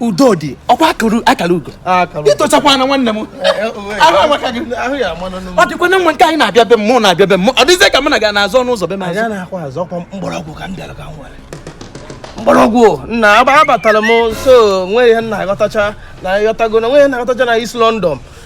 udo dị ọkwa akara ugo ịtụchakwa na nwanne m ọ dịkwa na nwa nke anyị na-abịa be m mụ na-abịa be m ọ dịzie ka m na gị na-azọ ọnụ ụzọ be m azọ mgbọrọgwụ ka m bịara ka m were mgbọrọgwụ nna abatara m so nwere ihe na-aghọtacha na ịghọtago na nwere na-aghọtacha na East London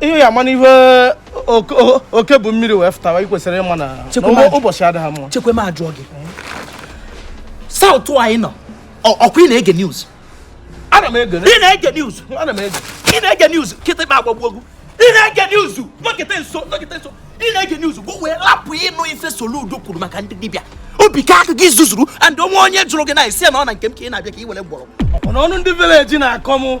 ihe ya mana ihe oke bụ mmiri wee fụtawa ị kwesịrị ịma na ụbọchị adịghị mma chekwema ajụọ gị South anyị nọ ọkwa ị na-ege news ana m ege ị na-ege news ana m ege ị na-ege news kịtịkpa agbagbu egwu ị na-ege news nkịta nso nkịta nso ị na-ege news bụ wee lapụ ịnụ ife Soludo kwuru maka ndị dibịa obi ka aka gị zuzuru and o nwee onye jụrụ gị ị na-asị na ọ na nke m ka ị na-abịa ka ị were mgbọrọgwụ ọnụ ndị village na-akọ m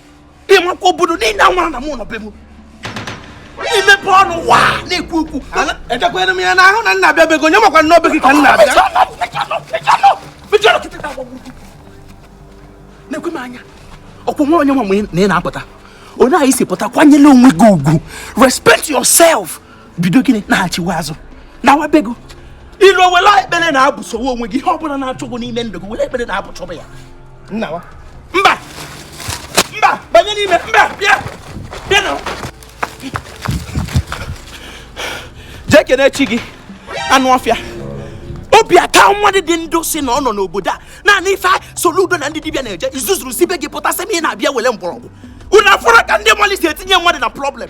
ị makwa obodo niile amara na mụ nọ be m ị mepe ọnụ wa na-ekwu okwu ejekwere m ya n'ahụ na m na-abịa be gị onye makwa na ọ be gị ka m na-abịa na-ekwe m anya ọkwụ nwa onye nwa na ị na-apụta onye isi pụta kwanyere onwe gị ugwu respect yourself bido gịnị na-achịwa azụ nawa be gị ị luo were ekpere na-abusowe onwe gị ihe ọ bụla na-achụ gị n'ime ndụ gị were ekpere na-abusoba ya nna wa mba mba banye n'ime mba bịa bịa na jee kene chi gị anụ ọfịa obi aka nwa dị ndụ sị na ọ nọ n'obodo a naanị ife Soludo na ndị dibịa na-eje ị zuzuru si be gị pụta sị m ị na-abịa were mgbọrọgwụ unu afụrụ ka ndị mmadụ si etinye mmadụ na problem